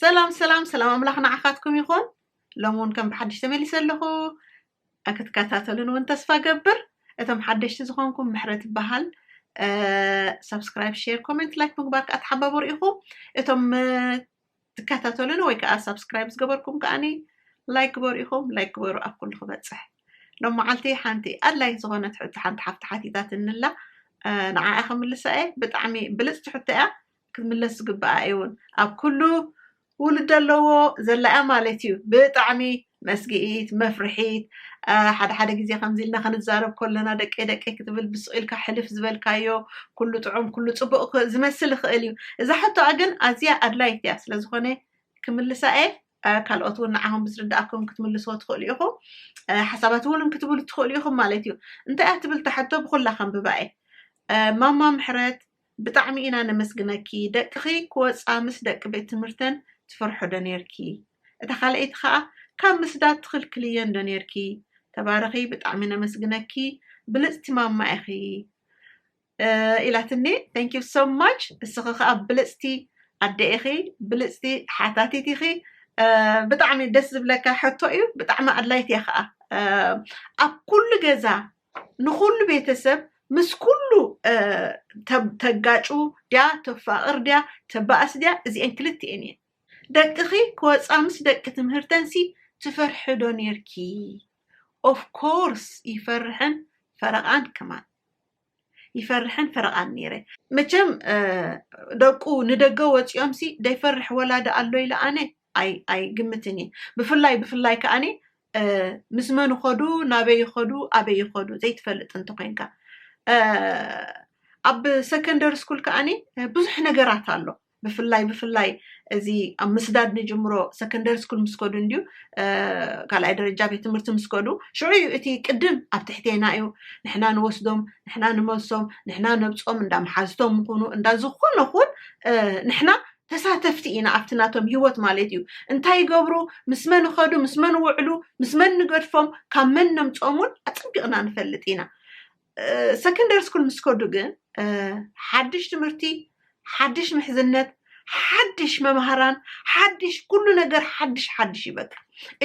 ሰላም ሰላም ሰላም ኣምላኽ ንዓኻትኩም ይኹን ሎም እውን ከም ብሓድሽ ተመሊሰ ኣለኹ ክትከታተሉን እውን ተስፋ ገብር እቶም ሓደሽቲ ዝኾንኩም ምሕረት ይበሃል ሰብስክራይብ ሼር ኮሜንት ላይክ ምግባር ከዓ ተሓባበሩ ኢኹም እቶም ትከታተሉኒ ወይ ከኣ ሳብስክራይብ ዝገበርኩም ከኣኒ ላይክ ግበሩ ኢኹም ላይክ ግበሩ ኣብ ኩሉ ክበጽሕ ሎመዓልቲ ሓንቲ ኣድላይት ዝኾነት ሕቶ ሓንቲ ሓፍቲ ሓቲታትኒ ኣላ ንዓኣ ክምልሳ እየ ብጣዕሚ ብልፅቲ ሕቶ እያ ክትምለስ ዝግብኣ እየውን ኣብ ኩሉ ውሉድ ኣለዎ ዘላ እያ ማለት እዩ ብጣዕሚ መስግኢት፣ መፍርሒት፣ እ፣ ሓደ ሓደ ግዜ ከምዚ ኢልና ክንዛረብ ከሎና ደቀይ ደቀይ ክትብል ብሱቕ ኢልካ ሕልፍ ዝበልካዮ ኩሉ ጥዑም ኩሉ ጽቡቕ ክ- ዝመስል ይኽእል እዩ። እዛ ሕቶኣ ግን ኣዝያ ኣድላይት እያ ስለ ዝኾነ ክምልሳ እየ። እ፣ ካልኦት እውን ንዓኹም ብዝርድኣኩም ክትምልስዎ ትኽእሉ ኢኹም። እ፣ ሓሳባት እውን ክትብሉ ትኽእሉ ኢኹም ማለት እዩ። እንታይ እያ ትብል እታ ሕቶ ብኹላ ከንብባ እየ። እ፣ ማማ ምሕረት ብጣዕሚ ኢና ነመስግነኪ ደቅኺ ክወጻ ምስ ደቂ ቤት ትምህርተን ትፈርሖ ዶ ኔርኪ እታ ካልኣይቲ ከኣ ካብ ምስዳድ ትኽልክልየን ዶ ኔርኪ ተባረኺ ብጣዕሚ ነመስግነኪ ብልጽቲ ማማ ኢኺ ኢላትኒ thank you so much እስኺ ከኣ ብልጽቲ ኣደ ኢኺ ብልጽቲ ሓታቲት ኢኺ ብጣዕሚ ደስ ዝብለካ ሕቶ እዩ ብጣዕሚ ኣድላይት እያ ከዓ ኣብ ኩሉ ገዛ ንኩሉ ቤተሰብ ምስ ኩሉ ተጋጩ ድያ ተፋቅር ድያ ተባእስ ድያ እዚኤን ክልቲኤን እየን ደቅኪ ክወጻ ምስ ደቂ ትምህርተን ሲ ትፈርሒ ዶ ኔርኪ ኦፍ ኮርስ ይፈርሕን ፈረቃን ከማን ይፈርሕን ፈረቃን ነይረ መቸም ደቁ ንደገ ወፂኦምሲ ደይፈርሕ ወላዲ ኣሎ ኢለ ኣነ ኣይግምትን እየ ብፍላይ ብፍላይ ከኣኒ ምስ መን ይኸዱ ናበይ ይኸዱ ኣበይ ይኸዱ ዘይትፈልጥ እንተኮይንካ ኣብ ሰከንደሪ ስኩል ከኣኒ ብዙሕ ነገራት ኣሎ ብፍላይ ብፍላይ እዚ ኣብ ምስዳድ ንጅምሮ ሰከንደሪ ስኩል ምስ ከዱ እንድዩ ካልኣይ ደረጃ ቤት ትምህርቲ ምስ ከዱ ሽዑ እዩ እቲ ቅድም ኣብ ትሕቴና እዩ ንሕና ንወስዶም ንሕና ንመልሶም ንሕና ነብፆም እንዳ መሓዝቶም ምኹኑ እንዳ ዝኾነ ኹን ንሕና ተሳተፍቲ ኢና ኣብቲ ናቶም ሂወት ማለት እዩ እንታይ ይገብሩ ምስ መን ይኸዱ ምስ መን ይውዕሉ ምስ መን ንገድፎም ካብ መን ነምፆሙን ኣፀቢቕና ንፈልጥ ኢና ሰከንደሪ ስኩል ምስ ከዱ ግን ሓድሽ ትምህርቲ ሓድሽ ምሕዝነት ሓድሽ መምሃራን ሓድሽ ኩሉ ነገር ሓድሽ ሓድሽ እዩ በቃ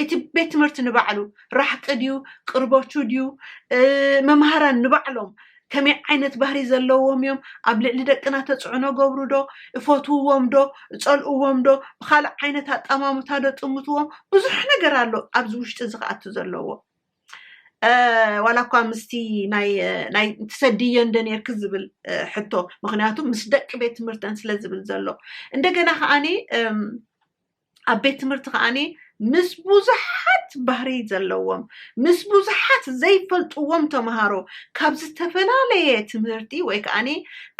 እቲ ቤት ትምህርቲ ንባዕሉ ራሕቂ ድዩ ቅርቦቹ ድዩ መምሃራን ንባዕሎም ከመይ ዓይነት ባህሪ ዘለዎም እዮም? ኣብ ልዕሊ ደቅና ተጽዕኖ ገብሩ ዶ? እፈትውዎም ዶ? እጸልእዎም ዶ? ብኻልእ ዓይነት ኣጠማምታ ዶ ጥምትዎም? ብዙሕ ነገር ኣሎ ኣብዚ ውሽጢ እዚ ክኣቱ ዘለዎ። ዋላ እኳ ምስቲ ናይ ትሰድዮ እንደ ነርኪ ዝብል ሕቶ ምክንያቱ ምስ ደቂ ቤት ትምህርተን ስለ ዝብል ዘሎ እንደገና ከዓኒ ኣብ ቤት ትምህርቲ ከዓኒ ምስ ብዙሓት ባህሪ ዘለዎም ምስ ብዙሓት ዘይፈልጥዎም ተምሃሮ ካብ ዝተፈላለየ ትምህርቲ ወይ ከዓኒ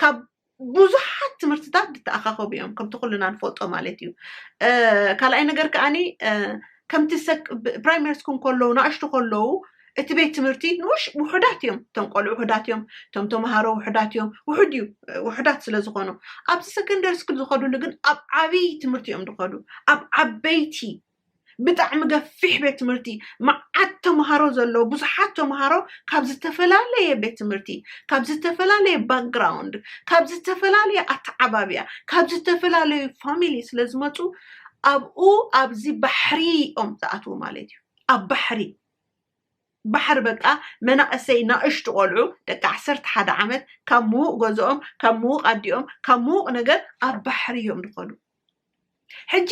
ካብ ብዙሓት ትምህርትታት ዝተኣኻኸቡ እዮም ከምቲ ኩልና ንፈልጦ ማለት እዩ እ፣ ካልኣይ ነገር ከዓኒ እ፣ ከምቲ ሰክ- ብ- ፕራይመሪ ስኩል ከለዉ ንኣሽቱ ከለዉ እቲ ቤት ትምህርቲ ንውሽ ውሑዳት እዮም እቶም ቆልዑ ውሑዳት እዮም እቶም ተምሃሮ ውሑዳት እዮም ውሑድ እዩ ውሑዳት ስለ ዝኾኑ ኣብዚ ሰከንደሪ ስኩል ዝኸዱሉ ግን ኣብ ዓብይ ትምህርቲ እዮም ዝኸዱ ኣብ ዓበይቲ ብጣዕሚ ገፊሕ ቤት ትምህርቲ መዓት ተምሃሮ ዘለዎ ብዙሓት ተምሃሮ ካብ ዝተፈላለየ ቤት ትምህርቲ ካብ ዝተፈላለየ ባክግራውንድ ካብ ዝተፈላለየ ኣተዓባብያ ካብ ዝተፈላለዩ ፋሚሊ ስለ ዝመፁ ኣብኡ ኣብዚ ባሕሪ እዮም ዝኣትዉ ማለት እዩ ኣብ ባሕሪ ባሕሪ በቃ መናእሰይ ናእሽቱ ቆልዑ ደቂ ዓሰርተ ሓደ ዓመት ካብ ምዉቅ ገዝኦም ካብ ምዉቅ ኣዲኦም ካብ ምዉቅ ነገር ኣብ ባሕሪ እዮም ዝኮዱ ሕጂ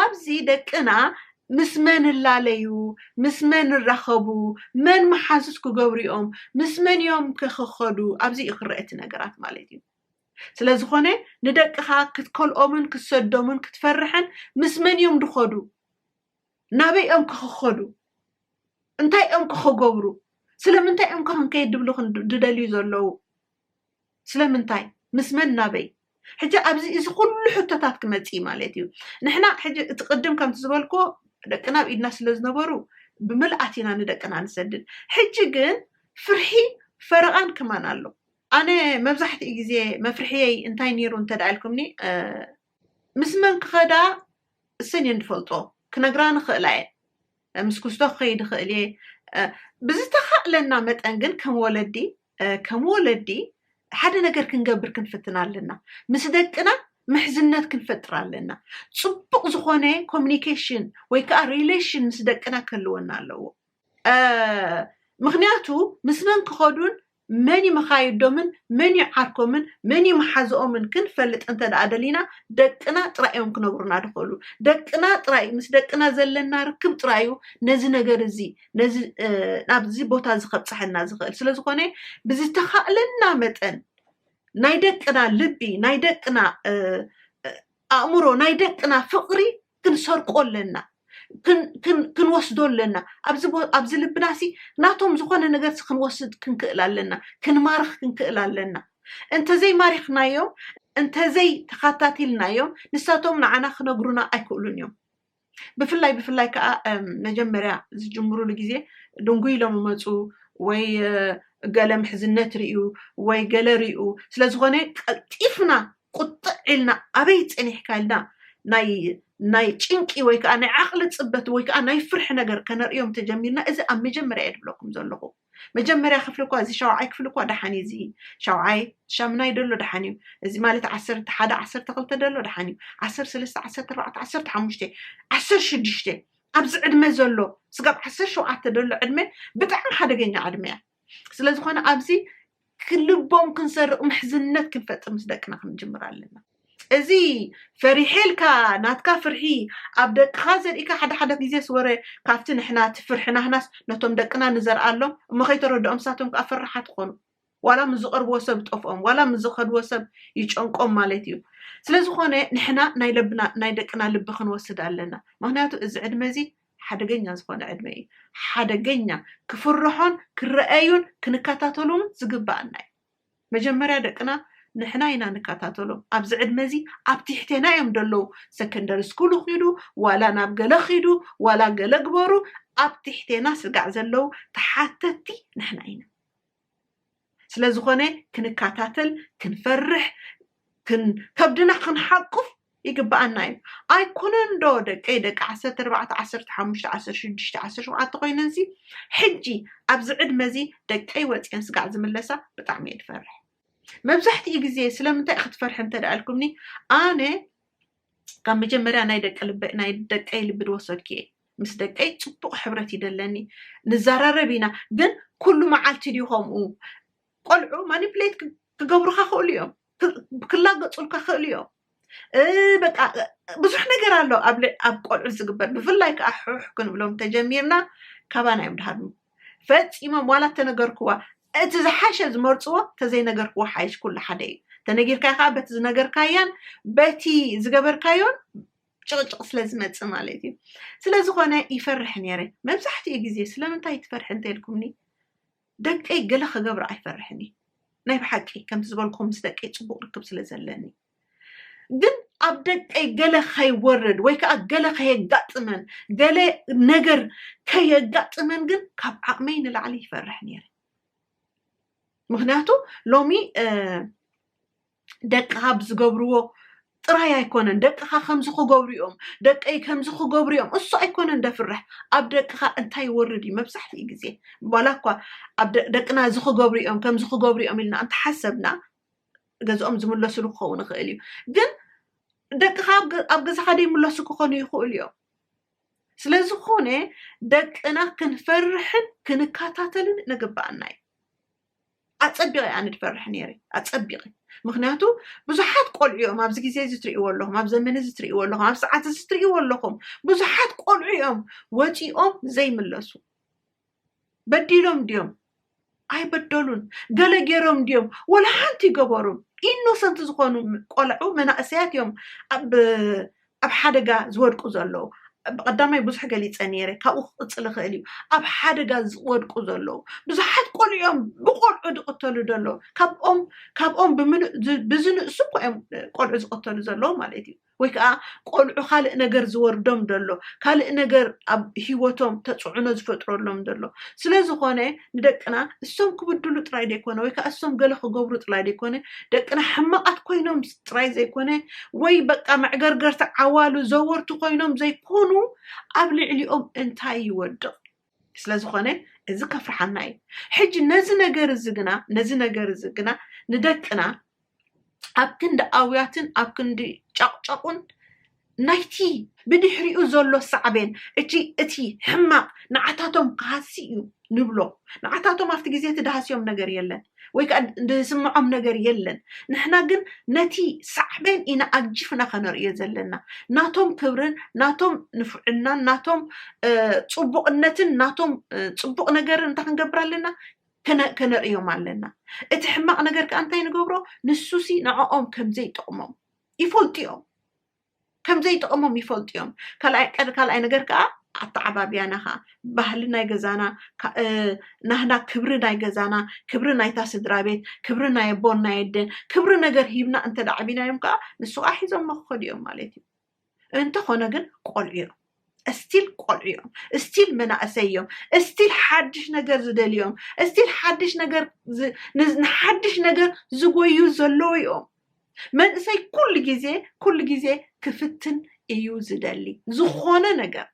ኣብዚ ደቅና ምስ መን እላለዩ ምስ መን እራከቡ መን መሓዙት ክገብሩ እዮም ምስ መን እዮም ከ ክከዱ ኣብዚ እዩ ክረኣ እቲ ነገራት ማለት እዩ ስለ ዝኮነ ንደቅካ ክትከልኦምን ክትሰዶምን ክትፈርሕን ምስ መን እዮም ዝከዱ ናበይ እዮም ከ ክኸዱ? እንታይ እዮም ከ ክገብሩ? ስለምንታይ እዮም ከ ክንከይድ ድብሉ ድደልዩ ዘለዉ? ስለምንታይ? ምስ መን ናበይ? ሕጂ ኣብዚ እዚ ኩሉ ሕቶታት ክመጽእ እዩ ማለት እዩ። ንሕና ሕጂ እቲ ቅድም ከምቲ ዝበልክዎ ደቅና ኣብ ኢድና ስለ ዝነበሩ ብምልኣት ኢና ንደቅና ንሰድድ። ሕጂ ግን ፍርሒ ፈረቓን ከማን ኣሎ። ኣነ መብዛሕትኡ ግዜ መፍርሕየይ እንታይ ነይሩ እንተ ኢልኩምኒ ምስ መን ክኸዳ እሰን እየን ዝፈልጦ ክነግራ ንኽእላ እየ ምስ ኩስቶ ክኸይድ ይኽእል እየ ብዝተኻእለና መጠን ግን ከም ወለዲ ከም ወለዲ ሓደ ነገር ክንገብር ክንፍትን ኣለና ምስ ደቅና ምሕዝነት ክንፈጥር ኣለና ፅቡቅ ዝኾነ ኮሚኒኬሽን ወይ ከዓ ሪሌሽን ምስ ደቅና ከልወና ኣለዎ ምክንያቱ ምስ መን ክኸዱን መን'ዩ መኻይዶምን መን'ዩ ዓርኮምን መን'ዩ መሓዝኦምን ክንፈልጥ እንተድኣ ደሊና ደቅና ጥራይ'ዮም ክነብሩና ድኸእሉ። ደቅና ጥራይ ምስ ደቅና ዘለና ርክብ ጥራይ'ዩ ነዚ ነገር እዚ ነዚ ናብዚ ቦታ እዚ ከብጽሐና ዝኸእል። ስለ ዝኾነ ብዝተኻእለና መጠን ናይ ደቅና ልቢ ናይ ደቅና ኣእምሮ ናይ ደቅና ፍቕሪ ክንሰርቆ ኣለና ክንወስዶ ኣለና ኣብዚ ልብና ሲ ናቶም ዝኾነ ነገር ሲ ክንወስድ ክንክእል ኣለና ክንማርኽ ክንክእል ኣለና እንተዘይ ማሪኽናዮም እንተዘይ ተኻታቲልናዮም ንሳቶም ንዓና ክነግሩና ኣይክእሉን እዮም ብፍላይ ብፍላይ ከዓ መጀመርያ ዝጅምሩሉ ግዜ ድንጉይ ኢሎም ይመፁ ወይ ገለ ምሕዝነት ርዩ ወይ ገለ ርዩ ስለዝኾነ ቀልጢፍና ቁጥዕ ኢልና ኣበይ ጸኒሕካ ኢልና ናይ ናይ ጭንቂ ወይ ከኣ ናይ ዓቕሊ ጽበት ወይ ከኣ ናይ ፍርሒ ነገር ከነርእዮም ተጀሚርና እዚ ኣብ መጀመርያ እየ ድብለኩም ዘለኹ መጀመርያ ክፍሊ እኳ እዚ ሻውዓይ ክፍሊ እኳ ደሓን እዩ እዚ ሻውዓይ ሻምናይ ደሎ ደሓን እዩ እዚ ማለት ዓሰርተ ሓደ ዓሰርተ ክልተ ደሎ ደሓን እዩ ዓሰርተ ሰለስተ ዓሰርተ ኣርባዕተ ዓሰርተ ሓሙሽተ ዓሰርተ ሽዱሽተ ኣብዚ ዕድመ ዘሎ ስጋብ ዓሰርተ ሸውዓተ ደሎ ዕድመ ብጣዕሚ ሓደገኛ ዕድመ እያ ስለዝኾነ ኣብዚ ክልቦም ክንሰርቅ ምሕዝነት ክንፈጥር ምስ ደቅና ክንጅምር ኣለና እዚ ፈሪሐ ኢልካ ናትካ ፍርሒ ኣብ ደቅካ ዘሪእካ ሓደ ሓደ ግዜ ስወረ ካብቲ ንሕና እቲ ፍርሕናህናስ ነቶም ደቅና ንዘርኣሎም እሞ ከይተረድኦም ንሳቶም ከኣ ፈራሓት ኮኑ ዋላ ምስ ዝቀርብዎ ሰብ ጠፍኦም ዋላ ምስ ዝከድዎ ሰብ ይጨንቆም ማለት እዩ ስለዝኾነ ንሕና ናይ ለብና ናይ ደቅና ልቢ ክንወስድ ኣለና ምክንያቱ እዚ ዕድመ እዚ ሓደገኛ ዝኾነ ዕድመ እዩ። ሓደገኛ ክፍርሖን ክረኣዩን ክንከታተሎምን ዝግበኣና እዩ። መጀመርያ ደቅና ንሕና ኢና ንከታተሎም። ኣብዚ ዕድመ እዚ ኣብ ትሕቴና እዮም ደለዉ። ሰከንደሪ ስኩሉ ኪዱ ዋላ ናብ ገለ ኪዱ ዋላ ገለ ግበሩ ኣብ ትሕቴና ስጋዕ ዘለዉ ተሓተቲ ንሕና ኢና። ስለዝኾነ ክንካታተል ክንፈርሕ ክን ከብድና ክንሓቁፍ ይግብኣና እዩ ኣይኮነን ዶ ደቀይ ደቂ ዓሰርተ ኣርባዕተ ዓሰርተ ሓሙሽተ ዓሰርተ ሽዱሽተ ዓሰርተ ሸውዓተ ኮይነንሲ ሕጂ ኣብዚ ዕድመ እዚ ደቀይ ወፅየን ስጋዕ ዝምለሳ ብጣዕሚ እየ ዝፈርሕ መብዛሕትኡ ግዜ ስለምንታይ ክትፈርሒ እንተደኣ ኢልኩምኒ ኣነ ካብ መጀመርያ ናይ ደቂ ልበ ናይ ደቀይ ልቢ ድወሰድኪ እየ ምስ ደቀይ ፅቡቅ ሕብረት ይደለኒ ንዘራረብ ኢና ግን ኩሉ መዓልቲ ድዩ ከምኡ ቆልዑ ማኒፕሌት ክገብሩካ ክእሉ እዮም ክላገፁልካ ክእሉ እዮም በቃ ብዙሕ ነገር ኣሎ ኣብ ቆልዑ ዝግበር ብፍላይ ከዓ ሕሕ ክንብሎም ተጀሚርና ካባና እዮም ድሃር ፈጺሞም ዋላ እተነገርክዋ እቲ ዝሓሸ ዝመርጽዎ ተዘይነገርክዋ ሓይሽ ኩሉ ሓደ እዩ ተነጊርካዮ ከኣ በቲ ዝነገርካያን በቲ ዝገበርካዮን ጭቕጭቕ ስለ ዝመጽእ ማለት እዩ ስለ ዝኾነ ይፈርሕ ነይረ መብዛሕትኡ ግዜ ስለምንታይ ትፈርሒ እንተልኩምኒ ደቀይ ገለ ክገብር ኣይፈርሕን እዩ ናይ ብሓቂ ከምቲ ዝበልኩም ምስ ደቀይ ጽቡቕ ርክብ ስለ ዘለኒ ግን ኣብ ደቀይ ገለ ከይወርድ ወይ ከዓ ገለ ከየጋጥመን ገለ ነገር ከየጋጥመን ግን ካብ ዓቕመይ ንላዕሊ ይፈርሕ ነይረ ምክንያቱ ሎሚ ደቅኻ ብዝገብርዎ ጥራይ ኣይኮነን ደቅኻ ከምዚ ክገብሩ እዮም ደቀይ ከምዚ ክገብሩ እዮም እሱ ኣይኮነን ደፍርሕ ኣብ ደቅኻ እንታይ ይወርድ እዩ መብዛሕትኡ ግዜ ዋላ እኳ ኣብ ደቅና እዚ ክገብሩ እዮም ከምዚ ክገብሩ እዮም ኢልና እንተሓሰብና ገዝኦም ዝምለስሉ ክኸውን ይኽእል እዩ ግን ደቅኻ ኣብ ገዛኻ ደይምለሱ ክኾኑ ይኽእሉ እዮም ስለ ዝኾነ ደቅና ክንፈርሕን ክንከታተልን ንግበኣና እዩ ኣፀቢቐ ኣነ ድፈርሕ ነይረ ኣፀቢቐ ምክንያቱ ብዙሓት ቆልዑ እዮም ኣብዚ ግዜ እዚ ትርእይዎ ኣለኹም ኣብ ዘመን እዚ ትርእይዎ ኣለኹም ኣብ ሰዓት እዚ ትርእይዎ ኣለኹም ብዙሓት ቆልዑ እዮም ወፂኦም ዘይምለሱ በዲሎም ድዮም ኣይበደሉን ገለ ገይሮም ድዮም ወላ ሓንቲ ይገበሩን ኢኖሰንት ዝኾኑ ቆልዑ መናእሰያት እዮም ኣብ ኣብ ሓደጋ ዝወድቁ ዘለዉ ብቐዳማይ ብዙሕ ገሊፀ ነይረ ካብኡ ክቕፅል ይኽእል እዩ ኣብ ሓደጋ ዝወድቁ ዘለዉ ብዙሓት ቆልዑኦም ብቆልዑ ዝቕተሉ ዘለዉ ካብኦም ካብኦም ብምሉእ ብዝንእሱ እኮ እዮም ቆልዑ ዝቕተሉ ዘለዉ ማለት እዩ ወይ ከኣ ቆልዑ ካልእ ነገር ዝወርዶም ደሎ ካልእ ነገር ኣብ ሂወቶም ተጽዕኖ ዝፈጥረሎም ደሎ ስለ ዝኾነ ንደቅና እሶም ክብድሉ ጥራይ ደይኮነ ወይ ከኣ እሶም ገለ ክገብሩ ጥላይ ደይኮነ ደቅና ሕማቃት ኮይኖም ጥራይ ዘይኮነ ወይ በቃ መዕገርገርቲ ዓዋሉ ዘወርቲ ኮይኖም ዘይኮኑ ኣብ ልዕሊኦም እንታይ ይወድቅ ስለ ዝኾነ እዚ ከፍርሓና እዩ ሕጂ ነዚ ነገር እዚ ግና ነዚ ነገር እዚ ግና ንደቅና ኣብ ክንዲ ኣውያትን ኣብ ክንዲ ጨቕጨቑን ናይቲ ብድሕሪኡ ዘሎ ሳዕቤን እቲ እቲ ሕማቕ ንዓታቶም ክሃሲ እዩ ንብሎ ንዓታቶም ኣብቲ ግዜ እቲ ድሃስዮም ነገር የለን ወይ ከኣ ዝስምዖም ነገር የለን ንሕና ግን ነቲ ሳዕቤን ኢና ኣግጂፍና ከነርእዮ ዘለና ናቶም ክብርን ናቶም ንፉዕናን ናቶም ጽቡቕነትን ናቶም ጽቡቕ ነገርን እንታይ ክንገብር ኣለና ከነርእዮም ኣለና እቲ ሕማቕ ነገር ከኣ እንታይ ንገብሮ ንሱሲ ንዕኦም ከም ዘይጠቕሞም ይፈልጡ እዮም ከም ዘይጥቕሞም ይፈልጡ እዮም። ካልኣይ ቀድ ካልኣይ ነገር ከዓ ኣተዓባብያና ከዓ ባህሊ ናይ ገዛና ናህና ክብሪ ናይ ገዛና ክብሪ ናይታ ስድራ ቤት ክብሪ ናይ ኣቦን ናይ ኣደን ክብሪ ነገር ሂብና እንተ ዓቢናዮም ከዓ ንሱ ከዓ ሒዞሞ ክኸዱ እዮም ማለት እዩ። እንተኾነ ግን ቆልዑ እዮም። እስቲል ቆልዑ እዮም እስቲል መናእሰይ እዮም እስቲል ሓድሽ ነገር ዝደልዩ እዮም እስቲል ሓድሽ ነገር ዝ- ን- ንሓድሽ ነገር ዝጎዩ ዘለዉ እዮም መንእሰይ ኩሉ ግዜ ኩሉ ግዜ ክፍትን እዩ ዝደሊ ዝኾነ ነገር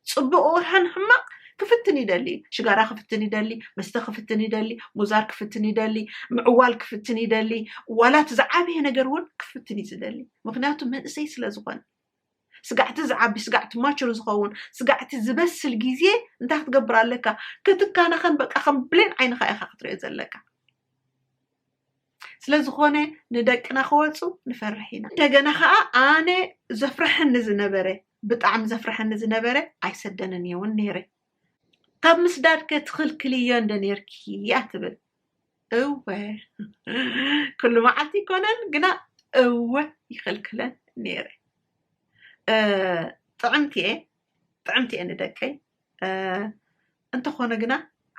ፅቡቅ ይኹን ሕማቅ ክፍትን ይደሊ እዩ ሽጋራ ክፍትን ይደሊ መስተ ክፍትን ይደሊ ሙዛር ክፍትን ይደሊ ምዕዋል ክፍትን ይደሊ ዋላ እቲ ዝዓበየ ነገር እውን ክፍትን እዩ ዝደሊ ምክንያቱ መንእሰይ ስለ ዝኾነ ስጋዕቲ ዝዓቢ ስጋዕቲ ማቹር ዝኸውን ስጋዕቲ ዝበስል ግዜ እንታይ ክትገብር ኣለካ ክትካናኸን በቃ ከም ብሌን ዓይንኻ ኢኻ ክትሪኦ ዘለካ ስለ ዝኾነ ንደቅና ክወፁ ንፈርሕ ኢና እንደገና ከዓ ኣነ ዘፍርሐኒ ዝነበረ ብጣዕሚ ዘፍርሐኒ ዝነበረ ኣይሰደንን እየ እውን ነይረ ካብ ምስዳድ ከ ትኽልክልዮ እንደ ነርኪ እያ ትብል እወ ኩሉ መዓልቲ ይኮነን ግና እወ ይኽልክለን ነይረ ጥዕምቲ እየ ጥዕምቲ እየ ንደቀይ እንተኾነ ግና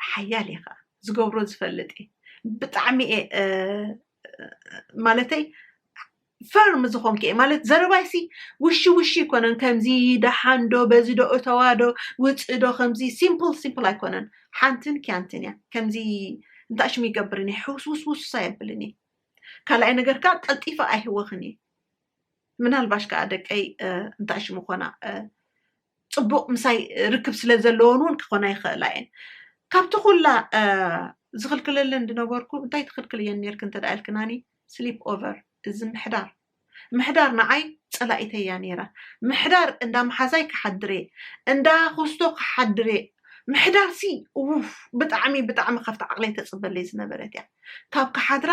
ሓያል እየ ከዓ ዝገብሮ ዝፈልጥ እየ ብጣዕሚ እየ ማለተይ ፈርም ዝኾንኪ እየ ማለት ዘረባይሲ ውሺ ውሺ ኣይኮነን ከምዚ ደሓን ዶ በዚ ዶ እተዋ ዶ ውፅ ዶ ከምዚ ሲምፕል ሲምፕል ኣይኮነን ሓንትን ኪያንትን እያ ከምዚ እንታይ ሽም ይገብርን እየ ሕውስውስውስ ኣየብልን እየ ካልኣይ ነገር ከዓ ቀልጢፈ ኣይህወኽን እየ ምናልባሽ ከዓ ደቀይ እንታይ ሽሙ ኮና ፅቡቅ ምሳይ ርክብ ስለ ዘለዎን እውን ክኾና ይኽእላ እየን ካብቲ ኩላ ዝኽልክለለን ዝነበርኩ እንታይ ትኽልክል እየን ነርክ እንተ ኢልክናኒ ስሊፕ ኦቨር እዚ ምሕዳር ምሕዳር ንዓይ ጸላኢተይ እያ ነይራ ምሕዳር እንዳ መሓዛይ ክሓድር እየ እንዳ ኮስቶ ክሓድር እየ ምሕዳር ሲ ኡፍ ብጣዕሚ ብጣዕሚ ካብቲ ዓቕለይ ተጽበለይ ዝነበረት እያ ካብ ክሓድራ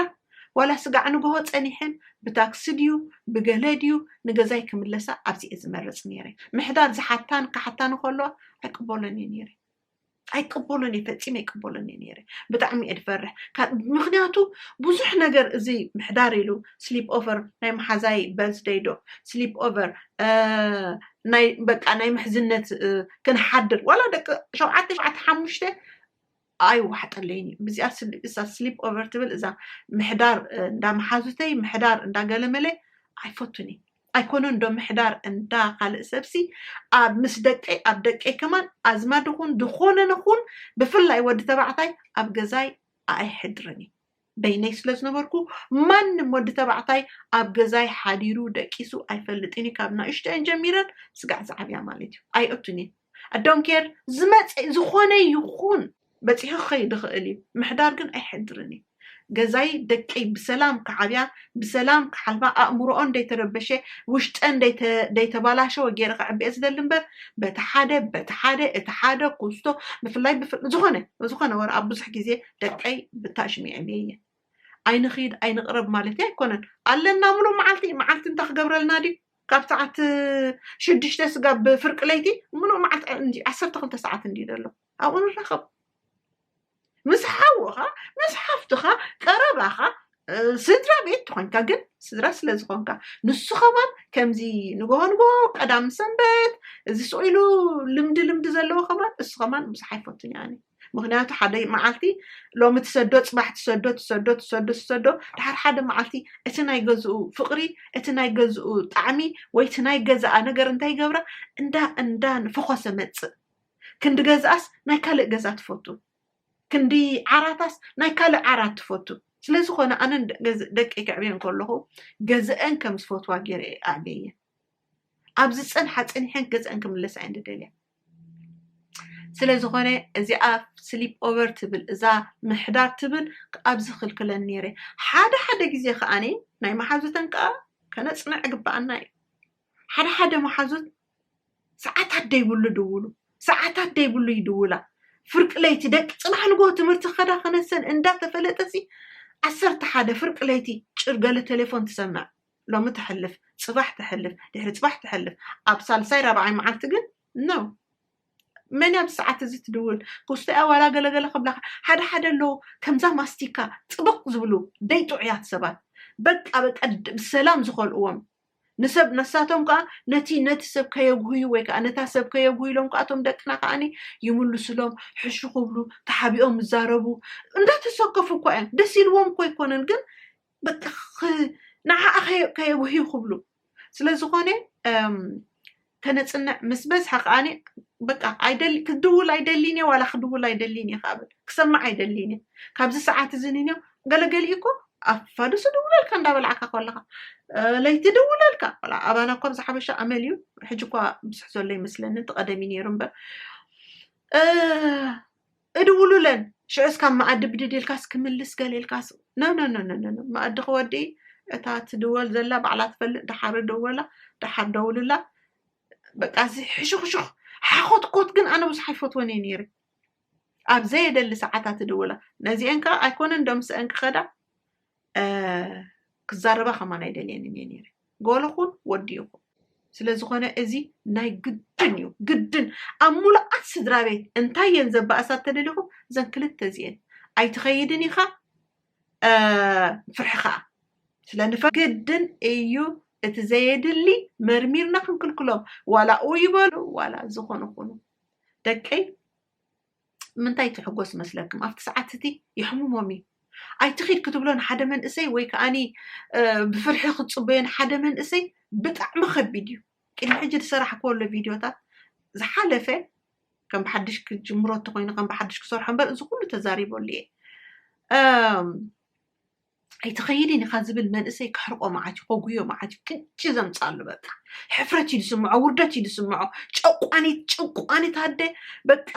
ዋላ ስጋዕ ንግሆ ጸኒሐን ብታክሲ ድዩ ብገለ ድዩ ንገዛይ ክምለሳ ኣብዚ እየ ዝመርጽ ነይረ ምሕዳር ዝሓታን ክሓታን ከለዋ ኣይቅበሎን እየ ነይረ ኣይቅበሎን እየ ፈፂመ ኣይቅበሎን እየ ነይረ ብጣዕሚ እየ ድፈርሕ ምክንያቱ ብዙሕ ነገር እዚ ምሕዳር ኢሉ ስሊፕ ኦቨር ናይ መሓዛይ በርዝደይ ዶ ስሊፕ ኦቨር ናይ በቃ ናይ ምሕዝነት ክንሓድር ዋላ ደቂ ሸውዓተ ሸውዓተ ሓሙሽተ ኣይዋሕጠለይን እዩ ብዚኣ እዛ ስሊፕ ኦቨር ትብል እዛ ምሕዳር እንዳ መሓዙተይ ምሕዳር እንዳገለመለ ኣይፈቱን እዩ ኣይኮነን ዶ ምሕዳር እንዳ ካልእ ሰብሲ ኣብ ምስ ደቀይ ኣብ ደቀይ ከማን ኣዝማድ ኹን ዝኾነ ንኹን ብፍላይ ወዲ ተባዕታይ ኣብ ገዛይ ኣኣይሐድርን እየ በይነይ ስለ ዝነበርኩ ማንም ወዲ ተባዕታይ ኣብ ገዛይ ሐዲሩ ደቂሱ ኣይፈልጥን እዩ ካብ ናእሽተኤን ጀሚረን ስጋዕ ዝዓብያ ማለት እዩ ኣይእቱን እየን ኣዶንኬር ዝመጸ ዝኾነ ይኹን በጺሑ ክኸይድ ይኽእል እዩ ምሕዳር ግን ኣይሕድርን እዩ ገዛይ ደቀይ ብሰላም ክዓብያ ብሰላም ክሓልፋ ኣእምሮኦን ደይተረበሸ ውሽጠን ደይተባላሸወ ገይረ ከዕብየ ዝደሊ እምበር በቲ ሓደ በቲ ሓደ እቲ ሓደ ኩስቶ ብፍላይ ዝኾነ ዝኾነ ወረ ኣብ ብዙሕ ግዜ ደቀይ ብታሽም የዕብየ እየ ኣይንኺድ ኣይንቕረብ ማለት ኣይኮነን ኣለና ምሉእ መዓልቲ መዓልቲ እንታይ ክገብረልና ድዩ ካብ ሰዓት ሽዱሽተ ስጋብ ፍርቂ ለይቲ ምሉእ መዓልቲ ዓሰርተ ክልተ ሰዓት እንድዩ ዘሎ ኣብኡ ንራኸብ ምስ ሓውኻ ምስ ሓፍትኻ ቀረባኻ ስድራ ቤት ተኾንካ ግን ስድራ ስለ ዝኾንካ ንሱ ከማን ከምዚ ንግሆ ንግሆ ቀዳም ሰንበት እዚ ስኢሉ ልምዲ ልምዲ ዘለዎ ከማን እሱ ከማን ብዙሕ ኣይፈቱን ያኒ ምክንያቱ ሓደ መዓልቲ ሎሚ ትሰዶ ፅባሕ ትሰዶ ትሰዶ ትሰዶ ትሰዶ ድሓር ሓደ መዓልቲ እቲ ናይ ገዝኡ ፍቅሪ እቲ ናይ ገዝኡ ጣዕሚ ወይ እቲ ናይ ገዛኣ ነገር እንታይ ይገብራ እንዳ እንዳ ንፈኾሰ መፅእ ክንዲ ገዝኣስ ናይ ካልእ ገዛ ትፈቱ፣ ክንዲ ዓራታስ ናይ ካልእ ዓራት ትፈቱ። ስለ ዝኾነ ኣነ ደቀይ ከዕብየን ከለኹ ገዘኣን ከም ዝፈትዋ ገይረ እየ ኣዕብየየን። ኣብ ዝጸንሓ ጸኒሐን ገዘኣን ክምለሳ እየን ዝደልያ። ስለ ዝኾነ እዚኣ ስሊፕ ኦቨር ትብል እዛ ምሕዳር ትብል ኣብዚ ክልክለን ነይረ ሓደ ሓደ ግዜ ከዓኒ ናይ መሓዙተን ከዓ ከነፅንዕ ግባኣና እዩ ሓደ ሓደ መሓዙት ሰዓታት ደይብሉ ድውሉ ሰዓታት ደይብሉ ይድውላ ፍርቂ ለይቲ ደቂ ፅባሕ ንጎ ትምህርቲ ከዳ ከነሰን እንዳተፈለጠሲ ዓሰርተ ሓደ ፍርቂ ለይቲ ጭር ገለ ቴሌፎን ትሰምዕ ሎሚ ተሕልፍ ፅባሕ ተሕልፍ ድሕሪ ፅባሕ ተሕልፍ ኣብ ሳልሳይ ራብዓይ መዓልቲ ግን ነው መን ኣብዚ ሰዓት እዚ ትድውል ክስቶያ ዋላ ገለገለ ክብላካ ሓደ ሓደ ኣለዉ ከምዛ ማስቲካ ፅብቕ ዝብሉ ደይጥዑያት ሰባት በቃ በቃ ብሰላም ዝኸልእዎም ንሰብ ነሳቶም ከኣ ነቲ ነቲ ሰብ ከየጉህዩ ወይ ከኣ ነታ ሰብ ከየጉህዩ ኢሎም ከኣ እቶም ደቅና ከኣኒ ይምልሱሎም፣ ሕሹ ክብሉ፣ ተሓቢኦም ይዛረቡ፣ እንዳተሰከፉ እኳ እዮም፣ ደስ ኢልዎም እኮ ኣይኮነን ግን በቃ ንዓኣ ከየጉህዩ ክብሉ። ስለዝኾነ ከነጽንዕ ምስ በዝሐ ከኣ በቃ ኣይደሊ ክድውል ኣይደሊን እየ ዋላ ክድውል ኣይደሊን እየ ከኣ በል ክሰምዕ ኣይደሊን እየ ካብዚ ሰዓት እዚ ንንዮ ገለ ገሊኡ እኮ ኣብ ፋዱስ እድውለልካ እንዳበላዕካ ኮለኻ ለይቲ ድውለልካ ቆልዓ ኣባና እኳ ብዛ ሓበሻ ኣመል እዩ ሕጂ እኳ ምስሕ ዘሎ ይመስለኒ እቲ ቀደም እዩ ነይሩ እምበር እድውሉለን ሽዑስ ካብ መኣዲ ብድድ ኢልካስ ክምልስ ገለ ኢልካስ ኖኖኖኖኖ መኣዲ ክወዲ እታ ትድወል ዘላ ባዕላ ትፈልጥ ደሓር ደወላ ደሓር ደውልላ በቃ እዚ ሕሹኽሹኽ ሓኾትኮት ግን ኣነ ብዙሕ ኣይፈትወን እየ ነይረ ኣብ ዘየደሊ ሰዓታት እድውላ ነዚአን ከዓ ኣይኮነን ዶ ምስአን ክኸዳ ክዛረባ ከማን ኣይደልየንን እየ ነይረ ጓልኹን ወዲ ይኹን ስለዝኾነ እዚ ናይ ግድን እዩ ግድን ኣብ ሙሉኣት ስድራ ቤት እንታይ እየን ዘባእሳ ተደሊኹም እዘን ክልተ እዚአን ኣይትኸይድን ኢኻ ፍርሒ ከዓ ስለንፈ ግድን እዩ እቲ ዘየድሊ መርሚርና ክንክልክሎም ዋላ ኡ ይበሉ ዋላ ዝኾኑ ኹኑ ደቀይ ምንታይ ትሕጎስ መስለክም ኣብቲ ሰዓት እቲ የሕሙሞም እዩ ኣይትኺድ ክትብሎ ንሓደ መንእሰይ ወይ ከዓኒ ብፍርሒ ክትፅበዮ ንሓደ መንእሰይ ብጣዕሚ ከቢድ እዩ ቅድሚ ሕጂ ዝሰራሕክዎ ኣሎ ቪድዮታት ዝሓለፈ ከም ብሓድሽ ክጅምሮ እንተኮይኑ ከም ብሓድሽ ክሰርሖ እምበር እዚ ኩሉ ተዛሪበሉ እየ ኣይትኸይድን ኢኻ ዝብል መንእሰይ ከሕርቆ መዓት እዩ ከጉዮ መዓት እዩ ክንቺ ዘምፃሉ በቃ ሕፍረት እዩ ዝስምዖ ውርደት እዩ ዝስምዖ ጨቋኒት ጭቋኒት ኣደ በቃ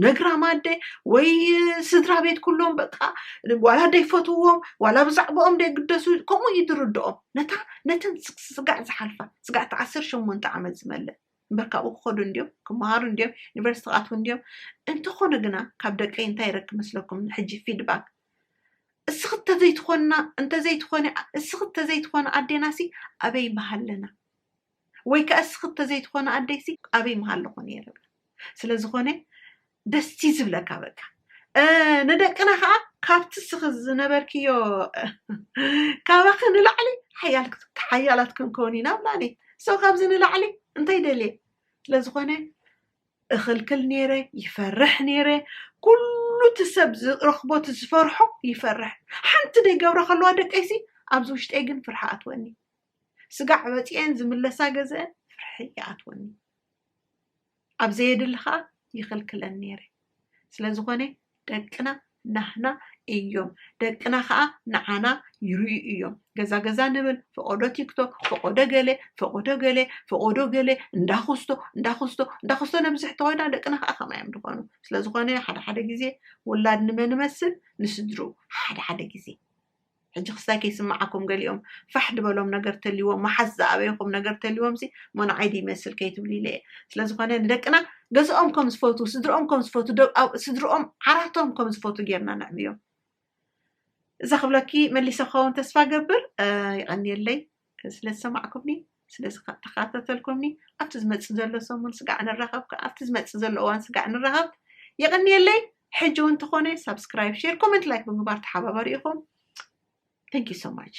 ነግራም ኣደ ወይ ስድራ ቤት ኩሎም በቃ ዋላ ደይፈትዎም ዋላ ብዛዕባኦም ደይግደሱ ከምኡ እዩ ዝርድኦም ነታ ነተን ስጋዕ ዝሓልፋ ስጋዕ እቲ ዓሰርተ ሸሞንተ ዓመት ዝመልእ እምበር ካብኡ ክኸዱ እንዲዮም ክመሃሩ እንዲዮም ዩኒቨርሲቲ ክኣትዉ እንዲዮም እንተኾነ ግና ካብ ደቀይ እንታይ ይረክብ መስለኩም ሕጂ ፊድባክ እስኺ እንተዘይትኾና እንተዘይትኾኒ እስኺ እንተዘይትኾኒ ኣዴናሲ ኣበይ ምሃለና ወይ ከዓ እስኺ እንተዘይትኾኒ ኣደይሲ ኣበይ ምሃለኹ ነይረ ብላ ስለዝኾነ ደስ እዩ ዝብለካ በቃ እ፣ ንደቅና ከዓ ካብቲ እስኺ ዝነበርክዮ እ፣ ካባኺ ንላዕሊ ሓያል ሓያላት ክንከውን ኢና ብላ እኔ ሰው ካብዚ ንላዕሊ እንታይ ደልየ ስለዝኾነ እኽልክል ነይረ ይፈርሕ ነይረ ኩሉ እቲ ሰብ ዝረኽቦ እቲ ዝፈርሖ ይፈርሕ ሓንቲ ደይገብረ ከለዋ ደቀይሲ ኣብዚ ውሽጠይ ግን ፍርሒ ኣትወኒ ስጋዕ ወፂኤን ዝምለሳ ገዘአን ፍርሒ ይኣትወኒ ኣብ ዘየድሊ ከዓ ይኽልክለን ነይረ ስለዝኾነ ደቅና ናህና እዮም ደቅና ከኣ ንዓና ይርእዩ እዮም ገዛ ገዛ ንብል ፈቆዶ ቲክቶክ ፈቆዶ ገለ ፈቆዶ ገለ ፈቆዶ ገለ እንዳኹስቶ እንዳኹስቶ እንዳኹስቶ ነብዝሕ ተኾይና ደቅና ከኣ ከማይ እዮም ዝኾኑ ስለዝኾነ ሓደ ሓደ ግዜ ውላድ ንመን መስል ንስድርኡ ሓደ ሓደ ግዜ ሕጂ ክስታይ ከይስምዓኩም ገሊኦም ፋሕ ድበሎም ነገር ተልይዎም መሓዝ ዝኣበየኹም ነገር ተልይዎምሲ እሞ ንዓይ ድዩ ይመስል ከይትብሉ ኢለ እየ ስለዝኾነ ንደቅና ገዝኦም ከም ዝፈቱ ስድርኦም ከም ዝፈቱ ስድርኦም ዓራቶም ከም ዝፈቱ ጌርና ነዕብዮም እዛ ክብለኪ መሊሰ ክኸውን ተስፋ ገብር ይቐንየለይ ስለ ዝሰማዕኩምኒ ስለ ተኻታተልኩምኒ ኣብቲ ዝመጽእ ዘሎ ሰሙን ስጋዕ ንራኸብ ከ ኣብቲ ዝመጽእ ዘሎ እዋን ስጋዕ ንራኸብ የቐንየለይ ሕጂ እውን ተኾነ ሳብስክራይብ ሼር ኮመንት ላይክ ብምግባር ተሓባበሩ ኢኹም ቴንክ ዩ ሶ ማች